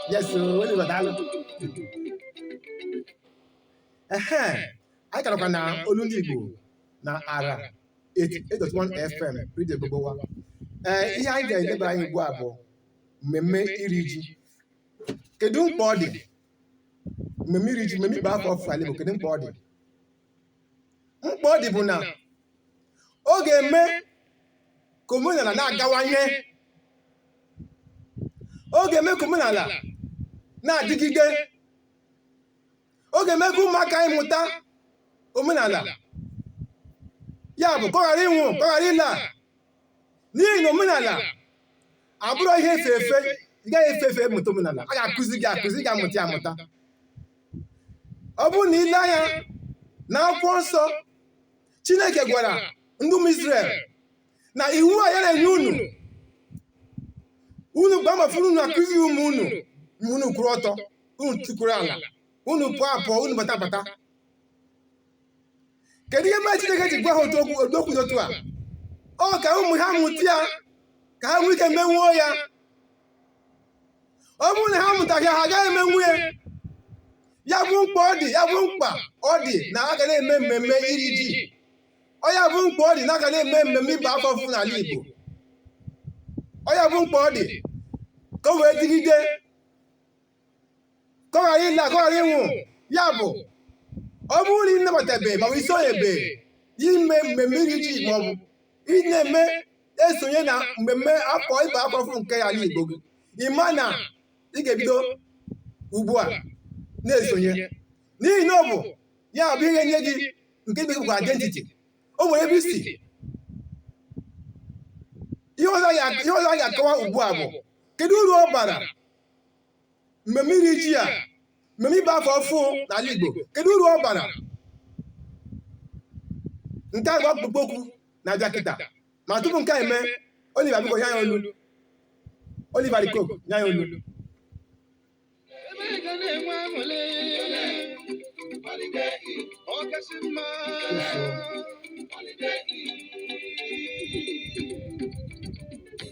Yes, sir. What is that? Ehe, anyị karakwa na olu ndị Igbo na ara 88.1 FM redio Gbogbowa. Ee, ihe anyị ga-eleba anya ugbu a bụ mmemme iri ji. Kedu mkpa ọ dị? Mmemme iri ji, mmemme ịba afọ ọfụ ala Igbo, kedu mkpa ọ dị? mkpa ọ dị bụ na ọ ga-eme ka omenala na-agawanye ọ ga-eme ka omenala na-adịgide ọ ga-eme ka ụmụaka anyị mụta omenala ya bụ ka ọ ghara ịnwụ ka ọ ghara ịla n'ihi na omenala abụrụ ihe efe efe ị gaghị efe efe mụta omenala a ga-akụzi gị akụzi gị amụta ya amụta ọ bụrụ na i lee anya na akwụkwọ nsọ chineke gwara ndị ụmụ Izrel na iwu a ya na-enye unu unu gbaa mbọ fụ unu akụzi ụmụ unu mgbe unu kwụrụ ọtọ unu tukwuru ala unu pụọ apụọ unu bata abata kedu ihe mere chineke ji gwa ha ụdị okwu dị otu a ọ ka ụmụ ha mụta ya ka ha nwee ike menwuo ya ọ bụrụ na ha mụtaghị ya ha agaghị emenwu ya ya bụ mkpa ọ dị ya bụ mkpa ọ dị na a ga na-eme mmemme iri ji ọ ya bụ mkpa ọ dị na a ga na-eme mmemme ịba afọ ọfụ n'ala Igbo ọ ya bụ mkpa ọ dị ka o wee dịgide ka ọ ghara ịla ka ọ ghara ịnwụ ya bụ ọ bụrụ na ị nabatabe ma ọ bụ i sonyebe ime mmemme iri ji ma ọ bụ ị na-eme esonye na mmemme afọ ịba afọ ọfụ nke ala Igbo gị ị ma na ị ga-ebido ugbu a na-esonye n'ihi na ọ bụ ya bụ ihe nye gị nke dị bụ identity o nwere ebe i si ihe ọzọ ya- ihe ọzọ a ga-akọwa ugbu a bụ kedu uru ọ bara mmemme iri ji a mmemme ịba afọ ọfụ n'ala Igbo kedu uru ọ bara nke a bụ ọkpụkpọ okwu na-abịa kịta ma tupu nke a eme Oliver biko nye anyị olu Oliver De Coque nye anyị olu Ọkasị mma